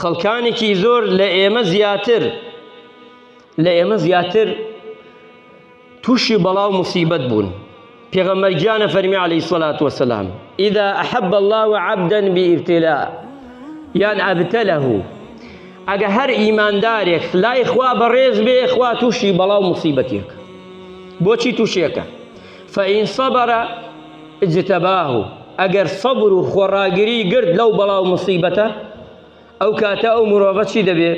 خەڵکانێکی زۆر لە ئێمە زیاتر لە ئێمە زیاتر تووشی بەڵا و مصیبەت بوون پێغەمبەر گیانە فەرمی عەلەیهی سەلات وەسەلام ئیدا ئەحەب الله عەبدەن بئیبتلا یان ئەبتەلەه ئەگە هەر ئیماندارێک لای خوا بەڕێز بێ خوا تووشی بەڵا و مصیبەتێک بۆچی تووشێکە فان صبر اجتباه ئەگەر صەبر و خۆڕاگری گرت لەو بەڵا و موسیبەتە ئەو کاتە ئەو مرۆڤە چی دەبێ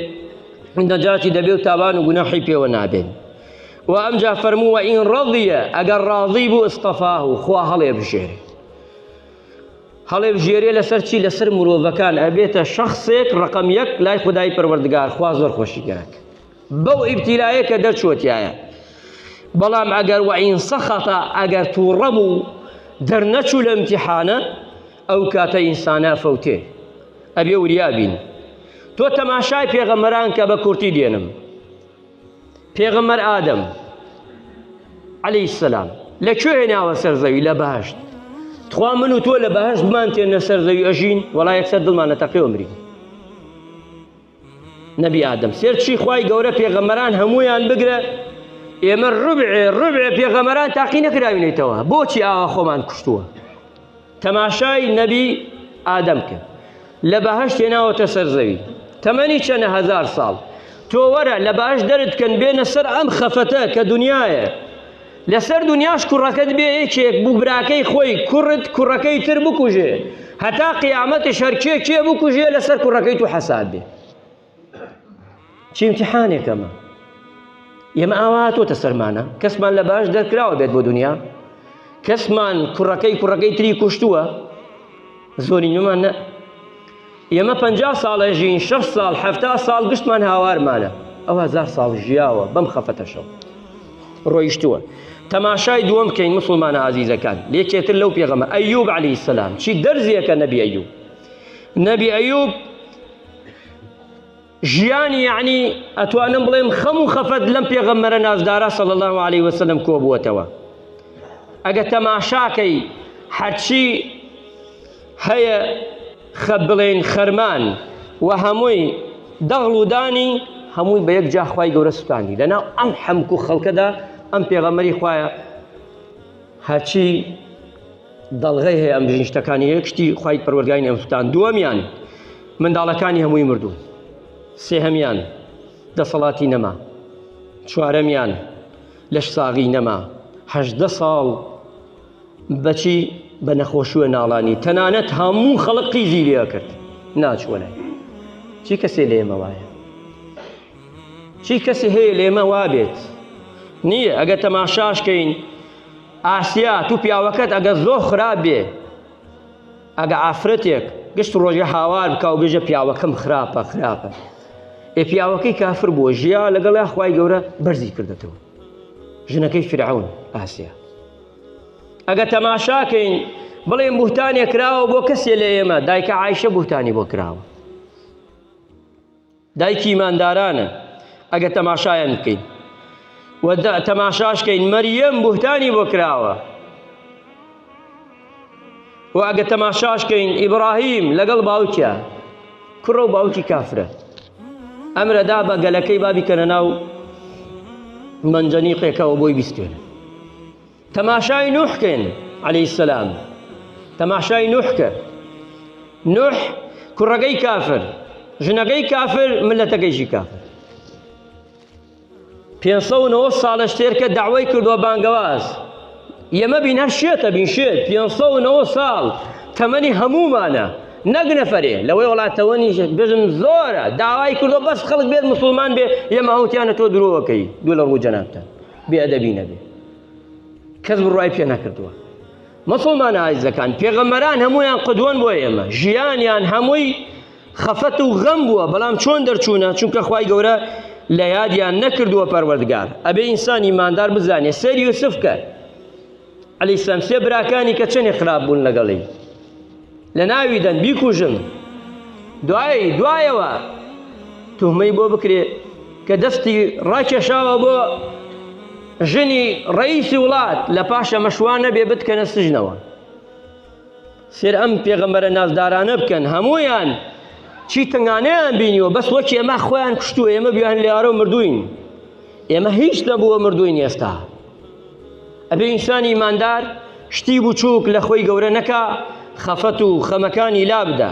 نەجاتی دەبێ و تاوان و گوناحی پێوە نابێت و ئەمجا فەرموو وە ئین ڕەضیە ئەگەر ڕاضی بوو استفاه و خوا هەڵێ بژێرێ هەڵێ بژێرێ لەسەر چی لەسەر مرۆڤەکان ئەبێتە شخصێک ڕقم یەک لای خدای پەروەردگار خوا زۆر خۆشی گەرەک بەو ئیبتیلایە کە دەرچووەتیایە بەڵام ئەگەر وەعین سەخەتە ئەگەر تووڕە بوو دەرنەچوو لە ئیمتیحانە ئەو کاتە ئینسانە فەوتێ ئەبێ وریابین تۆ تەماشای پێغەمەران کە بە کورتی دێنم پێغەمەر ئادەم عەلی سەسلام لە کوێ هێناوە سەر زەوی لە بەهشت تخوا من و تۆ لە بەهشتمان تێنە سەر زەوی ئەژین وەڵا یەکسەر دڵمان لە تەقێوە مرین نەبی ئادەم سێر چی خوای گەورە پێغەمەران هەمویان بگرە ئێمە ڕبعێ ڕبعێ پێغەمەران تاقی نەکراوینێتەوە بۆچی ئاوا خۆمان کوشتووە تەماشای نەبی ئادەم کرد لە بەهشت هێناوەتە سەر زەوی تەمەنی چەنە هزار ساڵ تۆ وەرە لە باش دەرتکەن بێنە سەر ئەم خەفەتە کە دنیاە لەسەر دونیاش کوڕەکەت بێ یەکێک بوو براکەی خۆی کوڕت کوڕەکەی تر بکوژێ هەتا قیامەتش هەر کێ کێ بکوژێ لەسەر کوڕەکەی تو حەساب بێ چی امتحانێکەمە ئێمە ئاوا تۆتە سەرمانە کەسمان لە باش دەرکراوە بێت بۆ دنیا کەسمان کوڕەکەی کوڕەکەی تری کوشتووە زۆری نومان نە ئێمە پەنجا ساڵ ئەژین، شەست ساڵ، حەفتا ساڵ گشتمان هاوارمانە، ئەو هەزار ساڵ ژیاوە بەم خەفەتەشەوە ڕۆیشتووە. تەماشای دووەم بکەین مسوڵمانە ئازیزەکان، یەکێتر لەو پێغەمە ئەیوب عەلەیهی سەلام چی دەرزیەکە نەبی ئەیوب نەبی ئەیوب ژیان یەعنی ئەتوانم بڵێم خەم و خەفەت لەم پێغەمبەرە نازدارە صلی الله علیه وسلم کۆبووەتەوە ئەگە تەماشاکەی هەرچی هەیە خە بڵێن خەرمان و هەمووی دەغڵ و دانی هەمووی بە یەک جاخوای گەورە سوتانی لەناو ئەم حەمک و خەڵکەدا ئەم پێغەمەری خوایە هەرچی دەڵغەی هەیە ئەم دژین شتەکانی یەک شتی خی پەروەگای نێوتان دووەمیان منداڵەکانی هەمووی مردوون سێهەمیان دەسەڵاتی نەما چوارەمیان لەش ساغی نەما هەدە ساڵ بەچی بە نەخۆشیوە ناڵانی تەنانەت هەموو خەڵق قیزی لێ کرد ناچوەلای چی کەسێ لێمە وایە چی کەسی هەیە لێمە وابێت نییە ئەگە تەماشاش کەین ئاسیا تو پیاوەکەت ئەگە زۆر خراپ بێ ئەگە ئافرەتێک گشت ڕۆژە هاوار بکە و بێژە پیاوەکەم خراپە خراپە ئێ پیاوەکەی کافر بووە ژیا لەگەڵ خی گەورە بەرزی کردێتەوە ژنەکەی فرعون ئاسیا ئەگە تەماشاکەین بڵێ بوتانێک کراوە بۆ کەسێ لە ئێمە دایکە عیشە بوتانی بۆ کراوە دایکی ئیماندارانە ئەگەر تەماشایان بکەین و تەماشاشکەین مەریەم بوهتانی بۆ کراوە و ئەگە تەماشاشکەین ئیبراهیم لەگەڵ باوکە کوڕە و باوکی کافرە ئەمرەدا بە گەلەکەی بابی کەنە ناو منجەنیقێکەوە بۆی بیستێنە تەماشای نوح کەن عەلەیهی السلام تەماشای نوح کە نوح کوڕەکەی کافر ژنەکەی کافر ملەتەکەیشی کافر پێ ساڵش تێرکە داوای کردووە بانگەواز ئێمە بین هەر شێتە بین شێت پێ ساڵ تەمەنی هەمومانە نەک نەفرێ لەوەی وڵاتەوەنی بژم زۆرە داوای کردو بەس خەڵک بێت مسلمان بێ ئێمە هەوتیانە تۆ درۆەکەی دوو لە ڕوو جەنابتە بێ ئەدەبی نەبێ کەس بڕای پێ نەکردووە مەسڵمان ئایزەکان پێغەمەران هەمویان قدوەن بۆ ئێمە ژیانیان هەمووی خەفەت و غەم بووە بەڵام چۆن دەرچوونە چونکە خی گەورە لە یادیان نەکردووە پەروەردگار ئەبێ ئینسانی مادار بزانێ سەری یوسف کرد علی السلام سێ براکانی کە چەنێ خراپ بوون لەگەڵی لە ناوی دەن بیکوژن دوایی دوایەوە توهمەی بۆ بکرێ کە دەستی ڕاکێشاوە بۆ ژنی ڕئیسی وڵات لە پاشە مەشوانە بێ بتکەنە سژنەوە سێر ئەم پێغەمبەرە نازدارانە بکەن هەمویان چی تنگانەیان بینیوە بەس وەکی ئەمە خۆیان کوشتووە ئێمە بیان لێارە و مردوین ئێمە هیچ نەبووە مردوین ئێستا ئەبێ ئینسانی ئیماندار شتی بچووک لە خۆی گەورە نەکا، خەفەت و خەمەکانی لابدا.